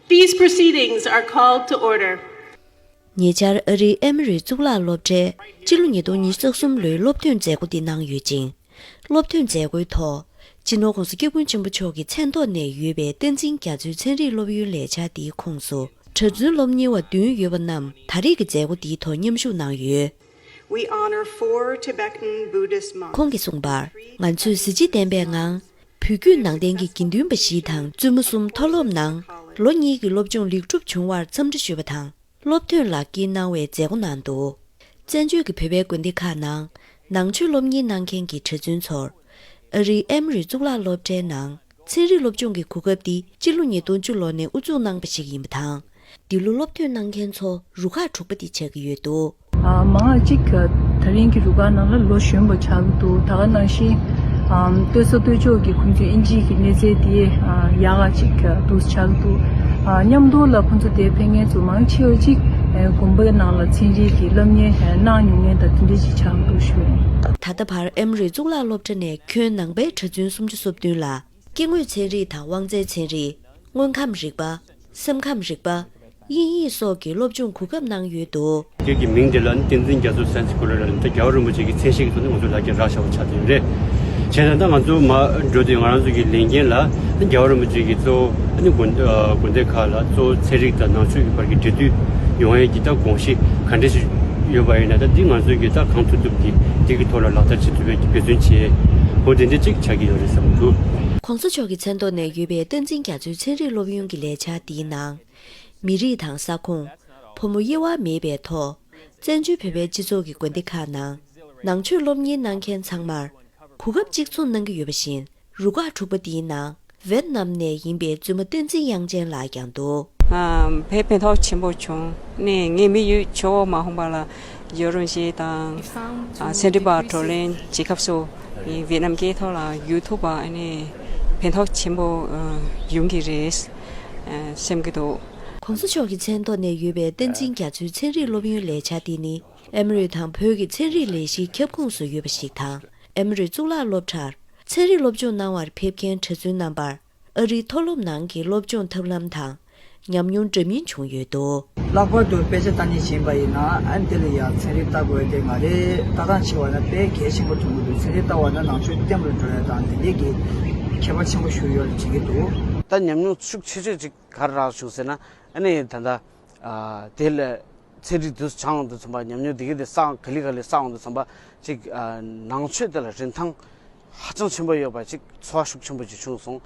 These proceedings are called to order. ཉེ་ཆར་ཨ་རིའི་ཨེ་མི་རི་གཙུག་ལག་སློབ་གྲྭས་སྤྱི་ལོ་ཉིས་སྟོང་ཉིས་བརྒྱ་གསུམ་ལོའི་སློབ་ཐོན་མཛད་སྒོ་འདི་གནང་ཡོད་ཅིང། སློབ་ཐོན་མཛད་སྒོའི་ཐོག་སྤྱི་ནོར ྋགོང་ས་སྐྱབས་ཀུན་ཆེན་པོ་མཆོག་གི་མཚན་ཐོག་ནས་ཡོད་པའི་བསྟན་འཛིན་རྒྱ་མཚོའི་ཚན་རིག་སློབ་ཡོན་ལས་འཆར་འདིའི་ཁོངས་སུ་གྲྭ་བཙུན་སློབ་གཉེར་བ་བདུན་ཡོད་པ་རྣམས་ད་རེས་ཀྱི་མཛད་སྒོ་འདིའི་ཐོག་མཉམ་ཞུགས་གནང་ཡོད། ཁོང་གིས་གསུངས་པར། ང་ཚོས་གཟི་བརྗིད་ལྡན་པའི་ངང་བོད་བརྒྱུད་ནང་བསྟན་གྱི་དགེ་འདུན་པ་བཞི་དང་བཙུན་མོ་གསུམ་མཐོ་སློབ་ནང་ལོ་གཉིས་ཀྱི་སློབ་སྦྱོང་ལེགས་གྲུབ་བྱུང་བར་འཚམས་འདྲི་ཞུས་པ་དང་སློབ་ཐོན་ལག་དཀྱིལ་གནང་བའི་མཛད་སྒོ་གནང་འདུག་བཙན་བྱོལ་གྱི་བོད་པའི་དགོན་སྡེ་ཁག་ནང་ནང་ཆོས་སློབ་གཉེར་གནང་མཁན་གྱི་གྲྭ་བཙུན་ཚོར་ཨ་རིའི་ཨེམ་རི་གཙུག་ལག་སློབ་གྲྭའི་ནང་ཚན་རིག་སློབ་སྦྱོང་གི་གོ་སྐབས་འདི་སྤྱི་ལོ་ཉིས་སྟོང་བཅུ་ལོ་ནས་དབུ་འཛུགས་གནང་པ་ཞིག་ཡིན་པ་དང། འདི་ལོ་སློབ་ཐོན་གནང་མཁན་ཚོ་རུ་ཁག་དྲུག་པ་འདི་ཆགས་ཀྱི་ཡོད་འདུག། མ་ངག་ཅིག་ད་རིང་གི་རུ་ཁག་ནང་ལ་ལོ་གཞོན་པོ་ཆགས་ཀྱི་འདུག་ད་ག་ནང་བཞིན་ལྟོས་ས་ལྟོས་ཕྱོགས་ཀྱི་ཁོང་ཚོའི་ཨིན་ཇིའི་གི་གནས་ཚད་དེ་ཡག་ག་ཅིག་འདུག་ཆགས་ཀྱི་འདུག་མཉམ་སྡོར་ལ་ཁོང་ཚོ་དེ་ཕན་ངན་ཚོ་མང་ཆེ་བ་ཅིག་དགོན་པའི་ནང་ལ་ཚན་རིག་གི་སློབ་གཉེར་གནང་མྱོང་མཁན་དང་དེ་འདྲས་ཅིག་ཆགས་ཀྱི་འདུག་ཞུ། ད་ལྟ་བར་ཨེམ་རི་གཙུག་ལག་སློབ་གྲྭ་ནས་ཁྱོན་ནང་པའི་གྲྭ་བཙུན་སུམ་ཅུ་སོ་བདུན་ལ། སྐྱེ་དངོས་ཚན་རིག་དང་དབང་རྩའི་ཚན་རིག། དངོས་ཁམས་རིག་པ། སེམས་ཁམས་རིག་པ། དབྱིན་ཡིག་སོགས་ཀྱི་སློབ་སྦྱོང་གོ་སྐབས་གནང་ཡོད་འདུག། སྐད་ཀྱི་མིང་དེ་ལ་ནི་ཏིང་འཛིན་རྒྱ་མཚོ་སེམས་ཀྱི་སྐུ་ལ་རེད་ལ་འདི་རྒྱལ་བ་རིན་པོ་ཆེ་ཀྱི་མཚན་ཞིག་གི་ཐོག་ནས་ང་ཚོས་ལག་ཁྱེར་རག་བྱ་བ་ཆགས་ཐུབ་རེད། བྱས་ཙང་ད་ང་ཚོ་མ་འགྲོ་དུས་ང་རང་ཚོ་གི་ལས་འགན་ལ་ནི་རྒྱལ་བ་རིན་པོ་ཆེ་གྱི་གཙོ་བོ་དགོན་སྡེ་ཁག་ལ་གཙོ་བོ་ཚན་རིག་དང་ནང་ཆོས་ཀྱི་བར་གྱི་འབྲེལ་མཐུད་ཡོང་ཡས་ཀྱི་ད་དགོངས་གཞི་ག་འདྲ་ཞིག་ཡོད་པ་ཡིན་ན་ད་འདི་ང་ཚོས་ཀྱི་ད་གང་ཐུབ་ཐུབ་ཀྱི་འདི་གི་ཐོག་ལ་ལག་བསྟར་བྱེད་ཐུབ་པའི་འབད་བརྩོན་བྱེད་དགོས་དེ་འདི་གཅིག། ཆགས་ཀྱི་ཡོད་རེད་བསམ་གྱི་འདུག། གོང་ས་མཆོག་གི་མཚན་ཐོག་ནས་ཡོད་པའི་བསྟན་འཛིན་རྒྱ་མཚོའི་ཚན་རིག་སློབ་ཡོན་གྱི་ལས་འཆར་འདིའི་ནང། མི་རིགས་དང་ས་ཁོངས། ཕོ་མོ་དབྱེ་བ་མེད་པའི་ཐོག། བཙན་བྱོལ་བོད་པའི་སྤྱི་ཚོགས་ཀྱི་དགོན་སྡེ་ཁག་ནང། ནང་ཆོས་སློབ་གཉེར་གནང་མཁན་ཚང་མར། གོ་སྐབས་གཅིག་མཚུངས་གནང་གི་ཡོད་པ་བཞིན་རུ་ཁག་དྲུག་པ་འདིའི་ནང། ཝེར་ནམ་ནས་ཡིན་པའི་བཙུན་མ་བསྟན་འཛིན་དབྱངས་ཅན་ལགས་ཀྱང་འདུག། བས་ཕན་ཐོགས་ཆེན་པོ་བྱུང། ནས་ངས་མི་ཡུལ་ཆུ་བོ་མ་ཧོང་པ་ལ་ཡོད་རུང་ཞེས་དང། སེ་འབྲི་བར་བགྲོ་གླེང་བྱེད་སྐབས་སུ། ཝེར་ནམ་སྐད་ཐོག་ལ་ཡོད་ཐུབ་པ་ནས་ཕན་ཐོགས་ཆེན་པོ་ཡོང་གི་རེད་སེམས་ཀྱི་འདུག། གོང་ས་མཆོག་གི་མཚན་ཐོག་ནས་ཡོད་པའི་བསྟན་འཛིན་རྒྱ་མཚོའི་ཚན་རིག་སློབ་ཡོན་ལས་བྱ་འདི་ནི་ཨེ་མི་རི་དང་བོད་ཀྱི་ཚན་རིག་ལས་གཞིའི་ཁྱབ་ཁོངས་སུ་ཡོད་པ་ཞིག་དང་ཨེ་མི་རི་གཙུག་ལག་སློབ་གྲྭར་ཚན་རིག་སློབ་སྦྱོང་གནང་བར་ཕེབས་མཁན་གྲྭ་བཙུན་རྣམ་པར་ཨ་རིའི་མཐོ་སློབ་ནང་གི་སློབ་སྦྱོང་ཐབས་ལམ་དང་ཉམས་མྱོང་འདྲ་མིན་བྱུང་ཡོད་འདུག། ལྷག་པར་དུ་དཔེ་ཆ་བལྟ་ཉན་བྱེད་པ་ཡིན་ན་ཨན་དེ་ལ་ཡང་ཚན་རིག་བལྟ་དགོས་དེ་མ་རེད་བལྟ་སྟངས་ཆེ་བ་ན་དཔེ་གལ་ཆེན་པོ་ཐོན་གྱི་འདུག་ཚན་རིག་བལྟ་བ་ན་ནང་ཆོས་སྐྱབས་རེ་འགྲོ་ཡ་དང་དེ་འདྲས་ཀྱི་ཁྱད་པར་ཆེན་པོ་ཞུགས་ཡོད་རེ་བྱེད་ཀྱི་འདུག། ད་ཉམས་མྱོང་ཤུགས་ཆེ་ཤོས་ཅིག་ག་རེ་རག་བྱུང་ཟེར་ན་ཨ་ནི་ད་ལྟ་དེ་ལས་ཚེ་རིག་དུས་སུ་བྱང་དུ་ཚུད་པ་ཉམས་མྱོང་དེ་ག་དེ་ས་ག་ལི་ག་ལི་ས་འོག་ཏུ་ཚུད་པ་ཅིག་ནང་ཆོས་དེ་ལ་རིན་ཐང་ཧ་ཅང་ཆེན་པོ་ཡོད་པ་ཅིག་འཚོ་བ་ཤུགས་ཆེན་པོ་ཅིག་བྱུང་སོང།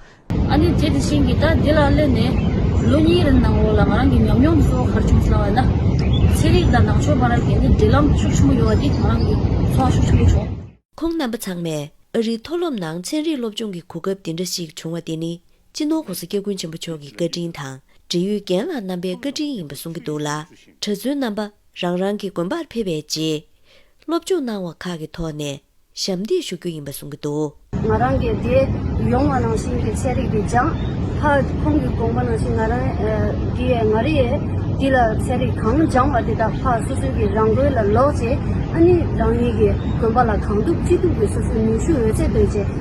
ཨ་ནི་དེ་དེ་བཞིན་གྱི་ད་དེ་ལ་སླེབས་ནས་ལོ་གཉིས་རིང་ནང་འོག་ལ་ང་རང་གི་ཉམས་མྱོང་གསོ་བ་གར་བྱུང་ཟེར་བ་ན། ཚེ་རིག་དང་ནང་ཆོས་བར་གྱི་ནི་འབྲེལ་ལམ་ཤུགས་ཆེན་པོ་ཡོད་པ་དེ་ང་རང་གི་འཚོ་བ་ཤུགས་ཆེན་པོ་བྱུང། ཁོང་རྣམ་པ་ཚང་མས་ཨ་རིའི་མཐོ་སློབ་ནང་ཚན་རིག་སློབ་སྦྱོང་གི་གོ་སྐབས་འདི་འདྲ་ཞིག་བྱུང་བ་དེ་ནི་སྤྱི་ནོར ྋགོང་ས་སྐྱབས་ཀུན་ཆེན་པོ་མཆོག་གི་བཀའ་དྲིན་དང་འབྲེལ་ཡུལ་རྒན་ལགས་རྣམ་པའི་བཀའ་དྲིན་ཡིན་པ་གསུང་གི་འདུག་ལ། གྲྭ་བཙུན་རྣམ་པ་རང་རང་གི་དགོན་པར་ཕེབས་པའི་རྗེས། སློབ་སྦྱོང་གནང་བ་ཁག་གི་ཐོག་ནས་ཞབས་འདེགས་ཞུ་རྒྱུ་ཡིན་པ་གསུང་གི་འདུག། ང་རང་གི་དེ་ཡོང་བ་ནང་བཞིན་གྱི་ཚན་རིག་དེ་སྦྱངས། ཧ། ཁོང་གི་དགོངས་པ་ནང་བཞིན་ང་རང་འདི་ཡས་མ་རེད། འདི་ལ་ཚན་རིག་གང་སྦྱངས་བ་དེ་དག་ཧ་སོ་སོའི་གི་རང་དགོན་ལ་ལོག་རྗེས། ཨ་ནི་རང་ཉིད་ཀྱི་དགོན་པ་ལ་གང་ཐུབ་ཅི་ཐུབ་ཀྱིས་སོ་སོའི་ནུས་ཤུགས་འོད་ཟེར་འདོན་ཆེད།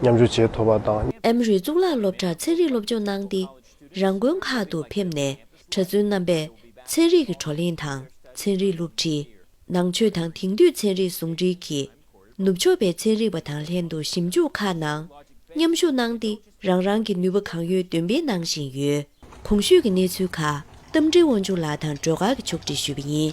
མཉམ་སྦྱོར་བྱས་ཐུབ་པ་དང། ཨེམ་རི་གཙུག་ལག་སློབ་གྲྭར་ཚན་རིག་སློབ་སྦྱོང་གནང་སྟེ། རང་དགོན་ཁག་ཏུ་ཕེབས་ནས་གྲྭ་བཙུན་རྣམ་པས་ཚན་རིག་གི་བགྲོ་གླེང་དང་ཚན་རིག་སློབ་ཁྲིད། ནང་ཆོས་དང་དེང་དུས་ཚན་རིག་ཟུང་འབྲེལ་གྱིས། ནུབ་ཕྱོགས་པའི་ཚན་རིག་པ་དང་ལྷན་དུ་ཞིབ་འཇུག་ཁག་ནང་མཉམ་ཞུགས་གནང་སྟེ་རང་རང་གི་ནུས་པ་གང་ཡོད་འདོན་སྤེལ་གནང་བཞིན་ཡོད། གོང་ཞུས་ཀྱི་གནས་ཚུལ་ཁག་རྟ་མགྲིན་དབང་ཕྱུག་ལགས་དང་སྒྲོལ་དཀར་གྱིས་ཕྱོགས་བསྒྲིགས་ཞུས་པ་ཡིན།